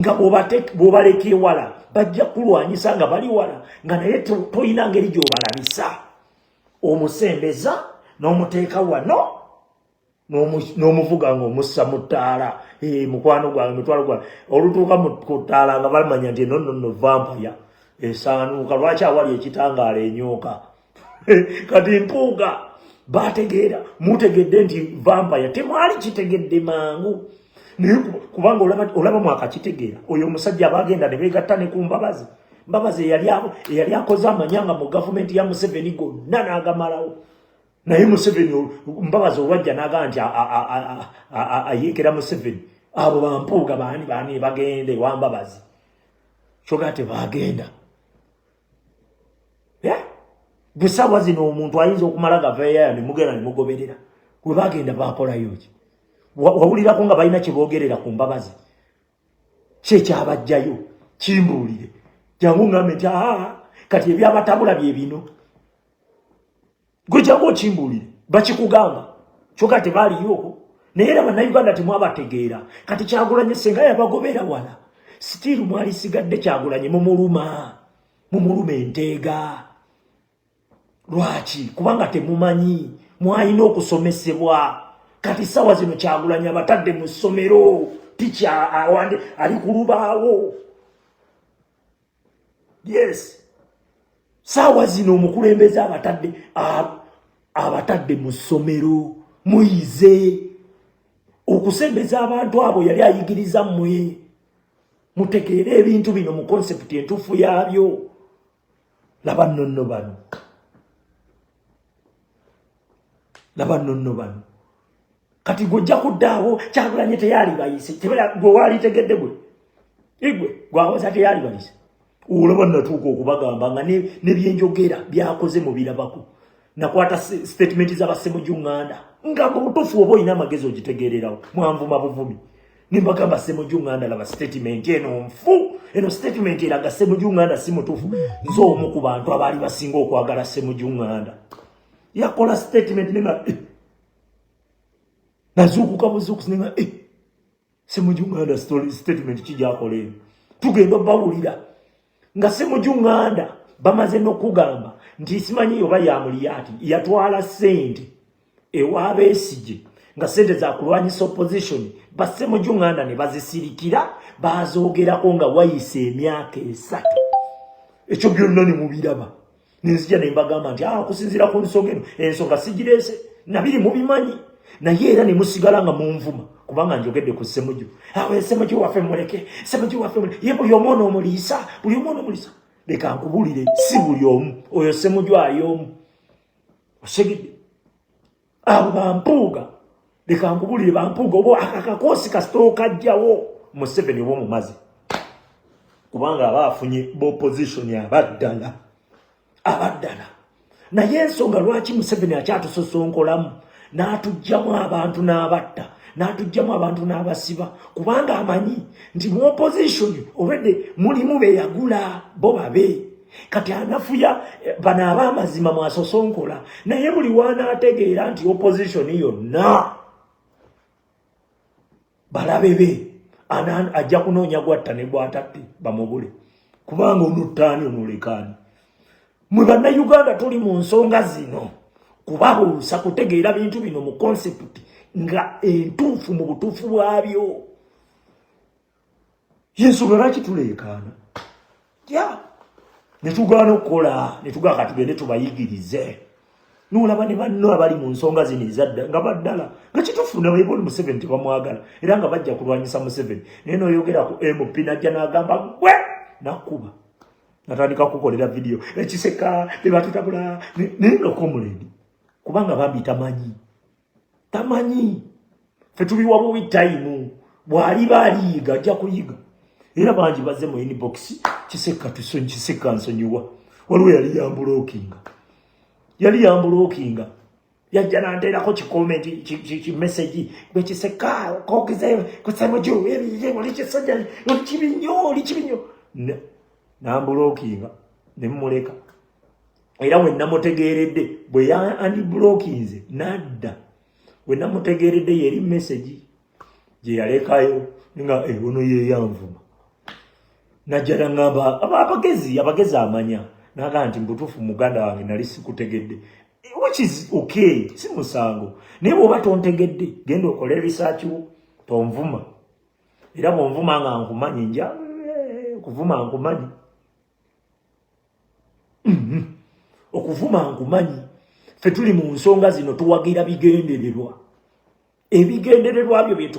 nga bwobaleka ewala bajja kulwanyisa nga bali wala nga naye tolina ngeri gyobalabisa omusembeza n'omuteeka wano n'omuvuga nga omussa mu ttaala eh, mukwano gwange mitwalo gwange olutuuka ku ttaala nga bamanya nti eno nonno vampaya esaanuuka lwaki awali ekitangaala enyooka kati mpuuga bategeera mutegedde nti vampaya temwali kitegedde mangu naye kubanga olaba mwakakitegeera oyo omusajja abagenda ne begatta ne ku mbabazi mbabazi eyali akoze amanyanga mu gavumenti ya museveni gonna n'agamalawo naye museveni mbabazi olwajja naga nti ayeekera museveni abo bampuuga baani baani bagenda ewambabazi kyogaa tebagenda eh? gesaawa zino omuntu ayinza okumala gaveyaya nemugenda nemugoberera gwe bagenda bakolayo ki wawulirako nga balina kyebogerera ku mbabazi kyekyabajjayo kimbuulire jangu ngambe nti aa kati ebyabatabula bye bino gwe jangu okimbuulire bakikugamba kyoka tebaaliyooko naye era bannayuganda temwabategeera kati kyagulanye senga yabagobeera wala sitiiru mwalisigadde kyagulanye mumuluma mumuluma enteega lwaki kubanga temumanyi mwalina okusomesebwa kati sawa zino kyagulanye abatadde mu ssomero tikya awande ali ku lubaawo yes saawa zino omukulembeze abatadde abatadde mu ssomero muyize okusembeza abantu abo yali ayigiriza mmwe mutegeere ebintu bino mu konsepti entuufu yaabyo laba nonno bano laba nonno bano kati gwe ojja kuddaawo kyagulanye teyalibayise gwe waalitegedde gwe igwe gwawoza teyalibayise olaba natuuka okubagamba nga nebyenjogera byakoze mubirabako nakwata statement zabasemujunganda nga mubutuufu oba olina amagezi ogitegeererawo mwanvuma buvumi nembagamba semuju nganda laba statement eno nfu eno statement eraga semuju nganda si mutuufu nze omu ku bantu abaali basinga okwagala semuju nganda yakola statement nenga eh. nazuukuka buzuukusi nenga eh. semuju nganda statement kijakola eno tugenda bawulira nga si mujunganda bamaze nokugamba nti simanyi oba yamuliyati yatwala sente ewabesije nga sente zakulwanyisa opposition basse mujunganda ne bazisirikira bazogerako nga wayise emyaka esatu ekyo byonna ne mubiraba nenzija ne mbagamba nti ah, okusinziira ku nsonga eno ensonga sigireese nabiri mubimanyi naye era ne musigala nga munvuma kubanga njogedde ku ssemuju awo ah, esemuju waffe muleke semuju waffe muleke ye buli omwana omuliisa buli omwana omuliisa leka nkubulire si buli omu oyo semuju ali omu osegedde abo bampuuga leka nkubulire bampuuga oba akakakoosi kasita okajjawo museveni oba omumazi kubanga aba afunye bopositioni abaddala abaddala naye ensonga lwaki museveni akyatusosonkolamu n'atugjamu abantu n'abatta n'atugjamu abantu n'abasiba kubanga amanyi nti mu opositioni olwedde mulimu beyagula bo babe kati anafuya eh, bano abamazima mwasosonkola naye buli wanaategeera nti opposition yonna balabe be ajja kunoonya gwatta ne gwatatte bamubule kubanga onuttaani onulekaani mwe bannayuganda tuli mu nsonga zino kubabuusa kutegeera bintu bino mu konsepti nga entuufu mu butuufu bwabyo yensonga lwaki tuleekaana ya netugaana okukola netugaa katugende tubayigirize nolaba ne banno abali mu nsonga zino ezadda nga baddala nga kitufu nabeboli museveni tebamwagala era nga bajja kulwanyisa museveni naye noyogera ku mp najja nagamba gwe nakuba natandika kukolera vidiyo ekiseka bebatutabula naye nokomuleni kubanga bambi tamanyi tamanyi fe tubiwa buwi tayimu bwaliba aliyiga ajja kuyiga era bangi baze mu inbox kiseka tusonyi kiseka nsonyiwa waliwo yali yambulokinga yali yambulokinga yajja nanteerako kikomenti kimesegi gwe kiseka kokize kusemuju ebiye oli kisajja oli kibi nnyo oli kibi nnyo nambulokinga ne mmuleka era bwe namutegeeredde bwe yandibulokinze nadda bwe namutegeeredde yeri mesegi gye yalekayo nga ebono eh, yeyanvuma najjala ngamba abagezi abagezi amanya naga nti mbutuufu muganda wange nali sikutegedde which is okay si musango naye bwoba tontegedde genda okole research wo tonvuma era bwonvuma nga nkumanyi nja eh, kuvuma nkumanyi mm-hmm. okuvuma nkumanyi ffe tuli mu nsonga zino tuwagira bigendererwa ebigendererwa byo byetu